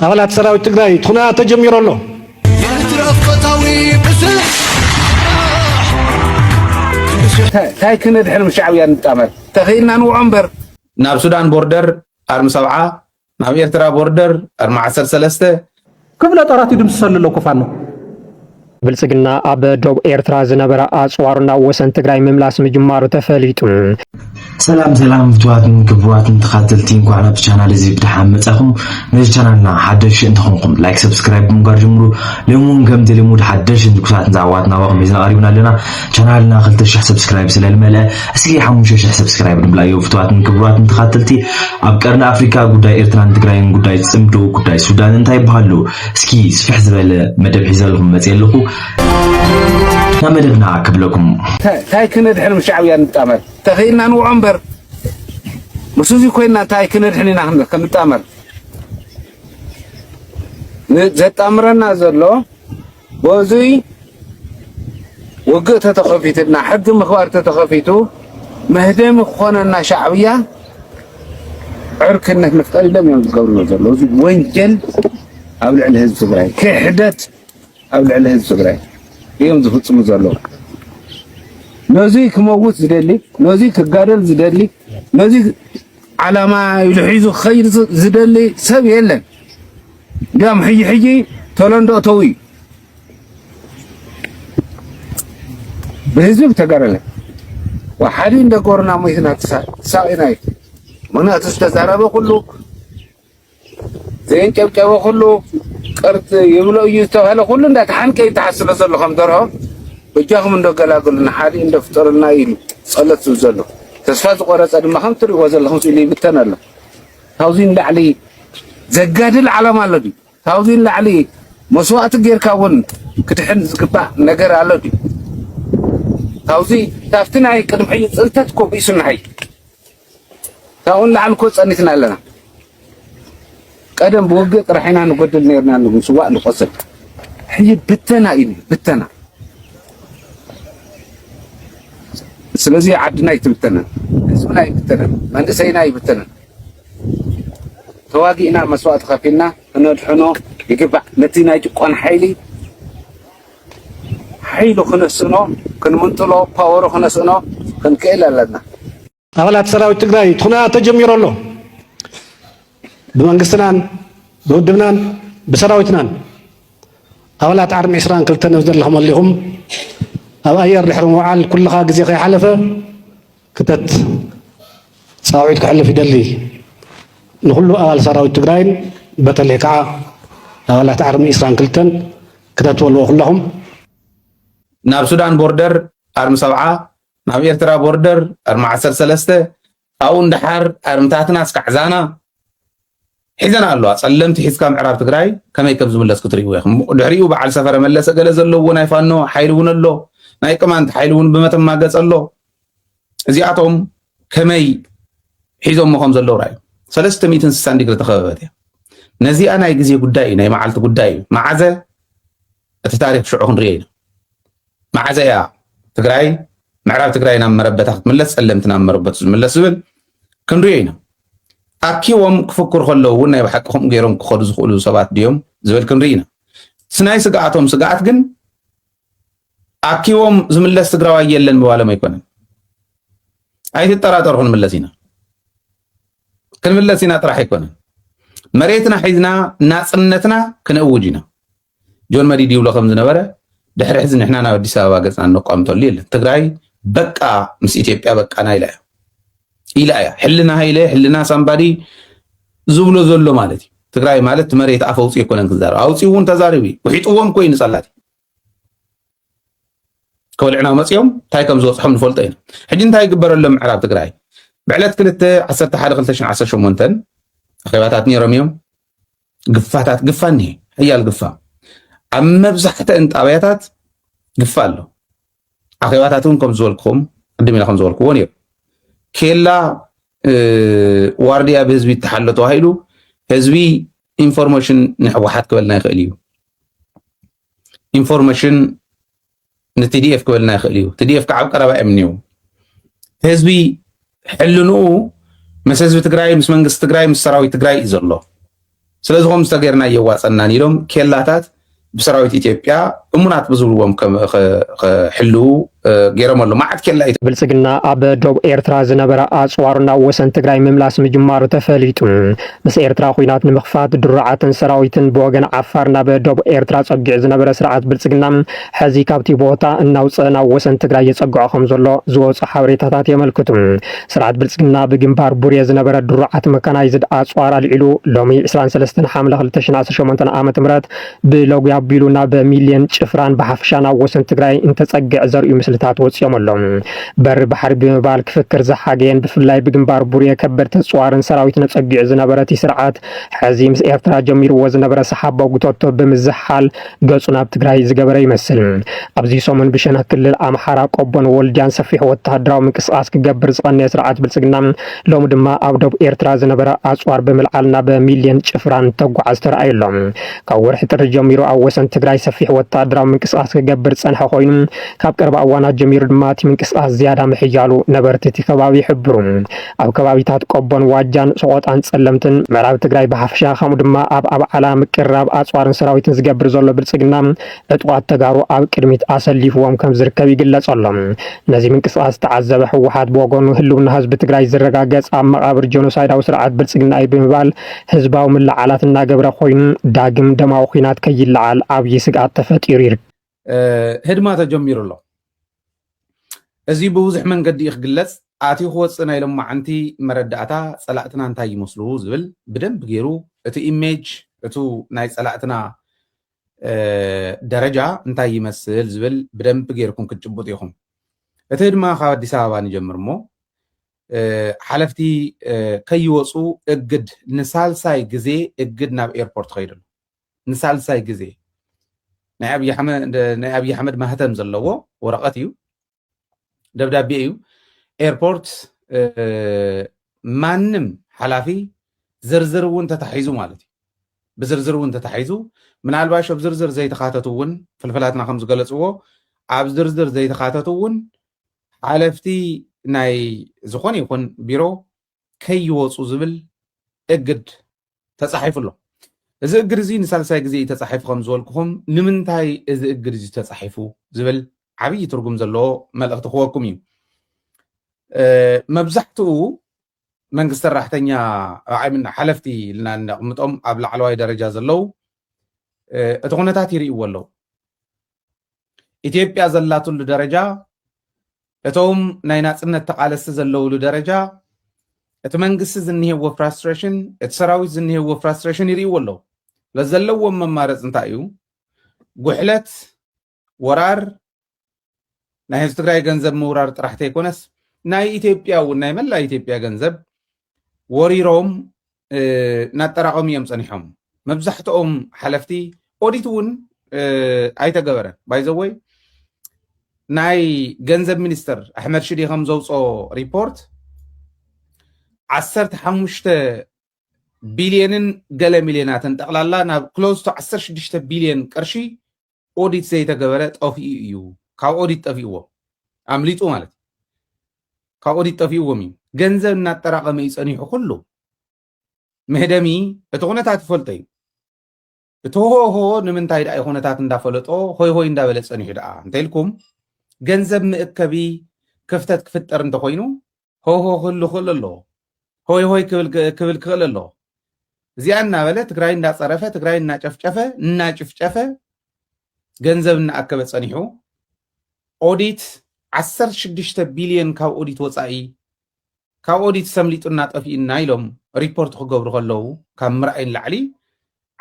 ኣባላት ሰራዊት ትግራይ እቲ ኹነታት ተጀሚሩ ኣሎ። ታይ ክነድሕን ምስ ሻዕብያ ንጣመር ተኽኢልና ንውዖ እምበር ናብ ሱዳን ቦርደር ኣርሚ ሰብዓ ናብ ኤርትራ ቦርደር ኣርሚ ዓሰርተ ሰለስተ ክፍለ ጦራት ይድምስሰሉ ኣሎ እኮ ፋኖ ብልፅግና ኣብ ዶብ ኤርትራ ዝነበረ ኣፅዋሩ ናብ ወሰን ትግራይ ምምላስ ምጅማሩ ተፈሊጡ። ሰላም ሰላም ፍትዋትን ክቡራትን ተኻተልቲ እንኳዕ ናብ ቻናል እዚ ብድሓን መጻኹም ነዚ ቻናልና ሓደሽ እንተኾንኩም ላይክ ሰብስክራይብ ብምግባር ጀምሩ ሎሚ እውን ከምቲ ልሙድ ሓደሽን ትኩሳትን ዛዕባዋት ናባኹም ሒዝና ቀሪብና ኣለና ቻናልና 2000 ሰብስክራይብ ስለ ዝመልአ እስኪ 5000 ሰብስክራይብ ንብላዮ ፍትዋትን ክቡራትን ተኻተልቲ ኣብ ቀርኒ ኣፍሪካ ጉዳይ ኤርትራን ትግራይን ጉዳይ ፅምዶ ጉዳይ ሱዳን እንታይ ይበሃሉ እስኪ ስፍሕ ዝበለ መደብ ሒዘልኹም መፅየ ኣለኹ ናብ መደብና ክብለኩም ታይ ክነድሕን ምስ ሻዕብያ ንጣመር ተኽኢልና ንውዖ እምበር ምስ እዙይ ኮይና እንታይ ክነድሕን ኢና ክንጣመር ዘጣምረና ዘሎ በዙይ ውግእ ተተኸፊትና ሕጊ ምኽባር ተተኸፊቱ መህደሚ ክኾነና ሻዕብያ ዕርክነት ምፍጣር ኢሎም እዮም ዝገብርዎ ዘለዉ። እዚ ወንጀል ኣብ ልዕሊ ህዝቢ ትግራይ፣ ክሕደት ኣብ ልዕሊ ህዝቢ ትግራይ እዮም ዝፍፅሙ ዘለዉ። ነዚ ክመውት ዝደሊ፣ ነዚ ክጋደል ዝደሊ፣ ነዚ ዓላማ ኢሉ ሒዙ ክኸይድ ዝደሊ ሰብ የለን። እንዲያውም ሕጂ ሕጂ ተለንዶ እተው እዩ። ብህዝብ ተጋደለ ወሓዲ እንደጎርና ሞትና ተሳቂና እዩ ምክንያቱ ዝተዛረበ ኩሉ ዘየንጨብጨበ ኩሉ ቅርት ይብሎ እዩ ዝተባሃለ ኩሉ እንዳተሓንቀ ይተሓስሎ ዘሎ ከም ደርሆ እጃኹም እንደገላግሉና ሓዲ እንደፍጠሩልና ኢሉ ጸሎት ዝብ ዘሎ ተስፋ ዝቆረጸ ድማ ከም ትሪእዎ ዘለኹም ስኢሉ ይብተን ኣሎ ካብዚ ንላዕሊ ዘጋድል ዓላማ ኣሎ ድዩ ካብዚ ንላዕሊ መስዋእቲ ጌርካ እውን ክድሕን ዝግባእ ነገር ኣሎ ድዩ? ካብዚ ካብቲ ናይ ቅድሚ ሕጂ ፅንተት እኮ ቢሱና ሐጂ ካብኡ ንላዕሊ እኮ ፀኒትና ኣለና። ቀደም ብውግእ ጥራሕ ኢና ንጎድል ነርና ንስዋእ ንቆስል ሕጂ ብተና እዩ ብተና ስለዚ ዓድና ይትብተነን ህዝብና ይብተነን መንእሰይና ይብተነን ተዋጊእና መስዋእቲ ከፊልና ክነድሕኖ ይግባእ ነቲ ናይ ጭቆን ሓይሊ ሓይሉ ክንስእኖ ክንምንጥሎ ፓወሩ ክነስእኖ ክንክእል ኣለና። ኣባላት ሰራዊት ትግራይ እቲ ኩነታት ተጀሚሩ ኣሎ። ብመንግስትናን ብውድብናን ብሰራዊትናን ኣባላት ዓርሚ ዕስራን ክልተን ኣብ ዘለኹም ኣሊኹም ኣብ ኣየር ድሕሪ ምውዓል ኩልኻ ግዜ ከይሓለፈ ክተት ፃውዒት ከሕልፍ ይደሊ። ንኹሉ ኣባል ሰራዊት ትግራይን በተለይ ከዓ ኣባላት ኣርሚ ዕስራን ክልተን ክተት በልዎ ኩላኹም። ናብ ሱዳን ቦርደር ኣርሚ ሰብዓ፣ ናብ ኤርትራ ቦርደር ኣርሚ ዓሰርተ ሰለስተ፣ ኣብኡን ደሓር ኣርምታትና እስካዕ ዛና፣ ሒዘን ኣለዋ ጸለምቲ ሒዝካ ምዕራብ ትግራይ ከመይ ከም ዝምለስ ክትርእይዎ ኢኹም ድሕሪኡ በዓል ሰፈረ መለሰ ገለ ዘለዎ ናይ ፋኖ ሓይሊ እውን ኣሎ ናይ ቅማንት ሓይሊ እውን ብመተማ ገጽ ኣሎ እዚኣቶም ከመይ ሒዞሞ ከም ዘለዉ ራእዩ ሰለስተ ሚእትን ስሳን ዲግሪ ተኸበበት እያ ነዚኣ ናይ ግዜ ጉዳይ እዩ ናይ መዓልቲ ጉዳይ እዩ መዓዘ እቲ ታሪኽ ሽዑ ክንርእዮ ኢና። መዓዘ እያ ትግራይ ምዕራብ ትግራይ ናብ መረበታ ክትምለስ ጸለምቲ ናብ መረበቱ ዝምለስ ዝብል ክንርእዮ ኢና። ኣኪቦም ክፍክሩ ከለዉ እውን ናይ ብሓቂ ከምኡ ገይሮም ክኸዱ ዝኽእሉ ሰባት ድዮም ዝብል ክንርኢ ኢና። እቲ ናይ ስግኣቶም ስግኣት ግን ኣኪቦም ዝምለስ ትግራዋይ የለን ምባሎም ኣይኮነን። ኣይትጠራጠሩ ክንምለስ ኢና ክንምለስ ኢና ጥራሕ ኣይኮነን። መሬትና ሒዝና ናፅነትና ክንእውጅ ኢና። ጆን መዲድ ይብሎ ከም ዝነበረ ድሕሪ ሕዚ ንሕና ናብ ኣዲስ ኣበባ ገፅና እነቋምተሉ የለን። ትግራይ በቃ ምስ ኢትዮጵያ በቃና ኢላ እያ ኢላ እያ። ሕልና ሃይለ ሕልና ሳምባዲ ዝብሎ ዘሎ ማለት እዩ። ትግራይ ማለት መሬት ኣፍ ኣውፅኡ ኣይኮነን ክዛረብ ኣውፅኡ እውን ተዛሪቡ እዩ። ውሒጥዎም ኮይኑ ፀላእቲ ከወልዕና መፅኦም እንታይ ከም ዝበፅሖም ንፈልጦ ኢና። ሕጂ እንታይ ይግበረሎም ምዕራብ ትግራይ ብዕለት ክልተ ዓሰርተ ሓደ ክልተ ሽሕን ዓሰርተ ሸሞንተን ኣኼባታት ነይሮም እዮም። ግፋታት ግፋ እኒሄ ሕያል ግፋ ኣብ መብዛሕተን ጣብያታት ግፋ ኣሎ ኣኼባታት እውን ከም ዝበልክኹም ቅድም ኢለ ከም ዝበልክዎ ነይሩ ኬላ ዋርድያ ብህዝቢ ይተሓሎ ተባሂሉ ህዝቢ ኢንፎርሜሽን ንሕወሓት ክበልና ይኽእል እዩ ኢንፎርሜሽን ንቲዲኤፍ ክበልና ይኽእል እዩ ቲዲኤፍ ከዓ ኣብ ቀረባ እዮም እኒው ህዝቢ ሕልንኡ ምስ ህዝቢ ትግራይ ምስ መንግስቲ ትግራይ ምስ ሰራዊት ትግራይ እዩ ዘሎ ስለዚ ከምዚ ተገይርና እየዋፀናን ኢሎም ኬላታት ብሰራዊት ኢትዮጵያ እሙናት ብዝብልዎም ክሕልው ገይሮም ኣሎ መዓት ኬላ እዩ። ብልፅግና ኣብ ዶብ ኤርትራ ዝነበረ ኣፅዋሩ ናብ ወሰን ትግራይ ምምላስ ምጅማሩ ተፈሊጡ። ምስ ኤርትራ ኹናት ንምኽፋት ድሩዓትን ሰራዊትን ብወገን ዓፋር ናብ ዶብ ኤርትራ ፀጊዑ ዝነበረ ስርዓት ብልፅግና ሕዚ ካብቲ ቦታ እናውፅእ ናብ ወሰን ትግራይ የፀግዖ ከምዘሎ ዝወፁ ሓበሬታታት የመልክቱ። ስርዓት ብልፅግና ብግንባር ቡሬ ዝነበረ ድሩዓት መካናይዝድ ኣፅዋር ኣልዒሉ ሎሚ ዕስራን ሰለስተን ሓምለ ክልተ ሽሕን ዓሰርተ ሸሞንተን ዓመተ ምህረት ብሎግያ ኣቢሉ ናብ ሚልዮን ጭፍራን ብሓፈሻን ኣብ ወሰን ትግራይ እንተፀግዕ ዘርእዩ ምስልታት ወፂኦም ኣሎም። በሪ ባሕሪ ብምባል ክፍክር ዝሓገየን ብፍላይ ብግንባር ቡሬ ከበድቲ ኣፅዋርን ሰራዊትን ኣፀጊዑ ዝነበረ እቲ ስርዓት ሕዚ ምስ ኤርትራ ጀሚርዎ ዝነበረ ሰሓቦ ጉተቶ ብምዝሕሓል ገፁ ናብ ትግራይ ዝገበረ ይመስል። ኣብዚ ሰሙን ብሸነኽ ክልል ኣምሓራ ቆቦን ወልድያን ሰፊሕ ወተሃደራዊ ምንቅስቓስ ክገብር ዝቐነየ ስርዓት ብልፅግና ሎሚ ድማ ኣብ ዶብ ኤርትራ ዝነበረ ኣጽዋር ብምልዓል ናብ ሚልዮን ጭፍራ እንተጓዓዝ ተራእዩ ኣሎ። ካብ ወርሒ ጥሪ ጀሚሩ ኣብ ወሰን ትግራይ ሰፊሕ ወተሃደራዊ ምንቅስቓስ ክገብር ዝጸንሐ ኮይኑ፣ ካብ ቀረባ እዋናት ጀሚሩ ድማ እቲ ምንቅስቓስ ዝያዳ ምሕያሉ ነበርቲ እቲ ከባቢ ይሕብሩ። ኣብ ከባቢታት ቆቦን ዋጃን፣ ሰቖጣን ጸለምትን፣ ምዕራብ ትግራይ ብሓፈሻ ከምኡ ድማ ኣብ ኣብዓላ ምቅርራብ ኣጽዋርን ሰራዊትን ዝገብር ዘሎ ብልጽግና፣ ዕጡቓት ተጋሩ ኣብ ቅድሚት ኣሰሊፍዎም ከም ዝርከብ ይግለፅ ኣሎ። ነዚ ምንቅስቓስ ዝተዓዘበ ህወሓት ብወገኑ ህልውና ህዝቢ ትግራይ ዝረጋገፅ ኣብ መቓብር ጀኖሳይዳዊ ስርዓት ብልፅግና እዩ ብምባል ህዝባዊ ምልዕዓላት እናገበረ ኮይኑ ዳግም ደማዊ ኹናት ከይለዓል ዓብዪ ስግኣት ተፈጢሩ ይርከብ። ህድማ ተጀሚሩ ኣሎ። እዚ ብብዙሕ መንገዲ እዩ ክግለፅ፣ ኣትዩ ክወፅእ ናይ ሎማዕንቲ መረዳእታ ፀላእትና እንታይ ይመስሉ ዝብል ብደንቢ ገይሩ እቲ ኢሜጅ እቱ ናይ ፀላእትና ደረጃ እንታይ ይመስል ዝብል ብደንቢ ጌርኩም ክትጭቡጡ ኢኹም። እቲ ድማ ካብ ኣዲስ ኣበባ ንጀምር እሞ ሓለፍቲ ከይወፁ እግድ ንሳልሳይ ግዜ እግድ ናብ ኤርፖርት ከይዱ ኣሎ ንሳልሳይ ግዜ ናይ ኣብዪ ኣሕመድ ማህተም ዘለዎ ወረቐት እዩ ደብዳቤ እዩ ኤርፖርት ማንም ሓላፊ ዝርዝር እውን ተታሒዙ ማለት እዩ ብዝርዝር እውን ተታሒዙ ምናልባሽ ኣብ ዝርዝር ዘይተካተቱ እውን ፍልፍላትና ከም ዝገለፅዎ ኣብ ዝርዝር ዘይተካተቱ እውን ሓለፍቲ ናይ ዝኾነ ይኹን ቢሮ ከይወፁ ዝብል እግድ ተጻሒፉ ኣሎ። እዚ እግድ እዚ ንሳልሳይ ግዜ እዩ ተጻሒፉ ከም ዝበልኩኹም ንምንታይ እዚ እግድ እዚ ተጻሒፉ ዝብል ዓብዪ ትርጉም ዘለዎ መልእኽቲ ክወኩም እዩ። መብዛሕትኡ መንግስቲ ሰራሕተኛ ዓይምና ሓለፍቲ ኢልና እነቕምጦም ኣብ ላዕለዋይ ደረጃ ዘለዉ እቲ ኩነታት ይርእይዎ ኣለዉ። ኢትዮጵያ ዘላትሉ ደረጃ እቶም ናይ ናፅነት ተቓለሲ ዘለውሉ ደረጃ እቲ መንግስቲ ዝኒሄዎ ፍራስትሬሽን እቲ ሰራዊት ዝኒሄዎ ፍራስትሬሽን ይርእይዎ ኣለዉ ስለዚ ዘለዎም መማረፂ እንታይ እዩ ጉሕለት ወራር ናይ ህዝቢ ትግራይ ገንዘብ ምውራር ጥራሕ ተይኮነስ ናይ ኢትዮጵያ እውን ናይ መላ ኢትዮጵያ ገንዘብ ወሪሮም እናጠራቐሙ እዮም ፀኒሖም መብዛሕትኦም ሓለፍቲ ኦዲት እውን ኣይተገበረን ባይዘወይ ናይ ገንዘብ ሚኒስትር ኣሕመድ ሽዴ ከም ዘውፅኦ ሪፖርት ዓሰርተ ሓሙሽተ ቢልዮንን ገለ ሚልዮናትን ጠቕላላ ናብ ክሎዝ ቱ ዓሰርተ ሽዱሽተ ቢልዮን ቅርሺ ኦዲት ዘይተገበረ ጠፊኡ እዩ ካብ ኦዲት ጠፊእዎም ኣምሊጡ ማለት እዩ ካብ ኦዲት ጠፊእዎም እዩ ገንዘብ እናጠራቐመ እዩ ፀኒሑ ኩሉ መህደሚ እቲ ኩነታት ይፈልጦ እዩ እቲ ሆሆ ንምንታይ ደኣ ኩነታት እንዳፈለጦ ሆይ ሆይ እንዳበለ ፀኒሑ ደኣ እንተኢልኩም ገንዘብ መእከቢ ክፍተት ክፍጠር እንተኮይኑ ሆሆ ክህሉ ክእል ኣለዎ ሆይ ሆይ ክብል ክእል ኣለዎ እዚኣ እናበለ ትግራይ እንዳፀረፈ ትግራይ እናጨፍጨፈ እናጭፍጨፈ ገንዘብ እናኣከበ ፀኒሑ ኦዲት 16 ቢልዮን ካብ ኦዲት ወፃኢ ካብ ኦዲት ሰምሊጡና ጠፊኡና ኢሎም ሪፖርት ክገብሩ ከለዉ ካብ ምርኣይ ንላዕሊ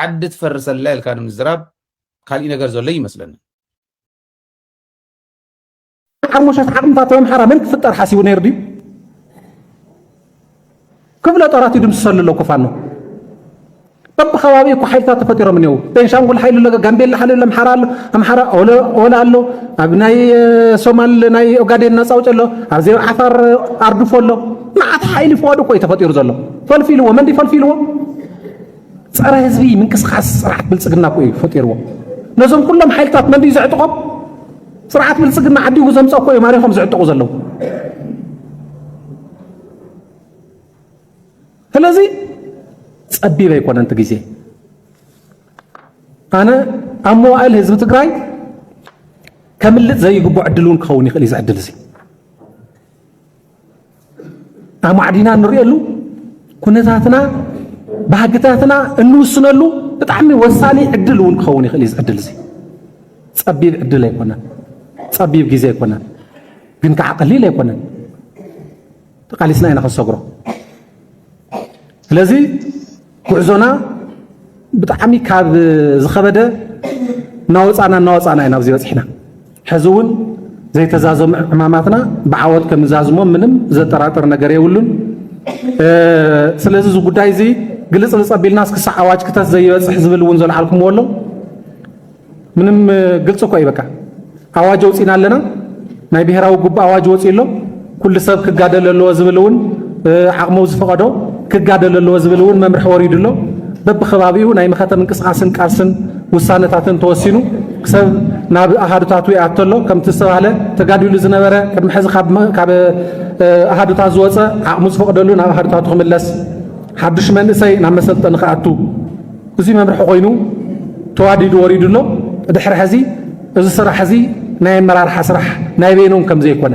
ዓዲ ትፈርሰላ ኢልካ ንምዝራብ ካሊእ ነገር ዘሎ ይመስለኒ ሓሙሻት ዓቕምታት ኣምሓራ መን ክፍጠር ሓሲቡ ነይሩ ድዩ? ክፍለ ጦራት ይድምስሰሉ ኣለኩ ፋኖ በብከባቢ እኮ ሓይልታት ተፈጢሮም እኒው ቤንሻንጉል ሓይሊ ኣሎ ጋምቤላ ሓይሊ ኣሎ ኣምሓራ ኣሎ ኣምሓራ ኦላ ኣሎ ኣብ ናይ ሶማል ናይ ኦጋዴን ነፃ ውጭ ኣሎ ኣብዚ ዓፋር ኣርድፎ ኣሎ መዓት ሓይሊ ፍዋድ እኮ እዩ ተፈጢሩ ዘሎ ፈልፊልዎ መንዲ ፈልፊልዎ ፀረ ህዝቢ ምንቅስቃስ ስርዓት ብልፅግና እኮ እዩ ፈጢርዎ ነዞም ኩሎም ሓይልታት መንዲ ዘዕጥቆም ስርዓት ብልፅግና ዓዲጉ ዘምፀ እኮ እዮም ኣሪኾም ዝዕጠቑ ዘለዉ ስለዚ ፀቢብ ኣይኮነንቲ ግዜ ኣነ ኣብ መዋእል ህዝቢ ትግራይ ከምልጥ ዘይግቦ ዕድል እውን ክኸውን ይኽእል እዩ ዝዕድል እዚ ኣማዕዲና እንሪእሉ ኩነታትና ባህግታትና እንውስነሉ ብጣዕሚ ወሳኒ ዕድል እውን ክኸውን ይኽእል እዩ። እዚ ዕድል እዚ ጸቢብ ዕድል ኣይኮነን፣ ጸቢብ ግዜ ኣይኮነን፣ ግን ከዓ ቀሊል ኣይኮነን። ተቃሊስና ኢና ክንሰግሮ። ስለዚ ጉዕዞና ብጣዕሚ ካብ ዝኸበደ እናወፃእና እናወፃእና ኢና ኣብዚ በፂሕና ሕዚ እውን ዘይተዛዘሙ ዕማማትና ብዓወት ከም ዛዝሞ ምንም ዘጠራጥር ነገር የብሉን። ስለዚ እዚ ጉዳይ እዚ ግልፅልፅ ኣቢልና ክሳዕ ኣዋጅ ክተት ዘይበፅሕ ዝብል እውን ዘልዓልኩምዎ ኣሎ። ምንም ግልፂ እኳ እዩ በቃ ኣዋጅ ኣውፂና ኣለና ናይ ብሄራዊ ጉባእ ኣዋጅ ወፂኡ ኣሎ ኩሉ ሰብ ክጋደል ኣለዎ ዝብል እውን ዓቕሙ ዝፈቐዶ ክጋደል ኣለዎ ዝብል እውን መምርሒ ወሪዱ ኣሎ በብከባቢኡ ናይ መኸተ ምንቅስቓስን ቃልስን ውሳነታትን ተወሲኑ ክሰብ ናብ ኣሃዱታቱ ይኣቶ ኣሎ ከምቲ ዝተባህለ ተጋዲሉ ዝነበረ ቅድሚ ሕዚ ካብ ኣሃዱታት ዝወፀ ዓቕሙ ዝፈቕደሉ ናብ ኣሃዱታቱ ክምለስ ሓዱሽ መንእሰይ ናብ መሰልጠኒ ክኣቱ እዚ መምርሒ ኮይኑ ተዋዲዱ ወሪዱ ኣሎ። ብድሕሪ ሕዚ እዚ ስራሕ እዚ ናይ ኣመራርሓ ስራሕ ናይ በይኖም ከም ዘይኮነ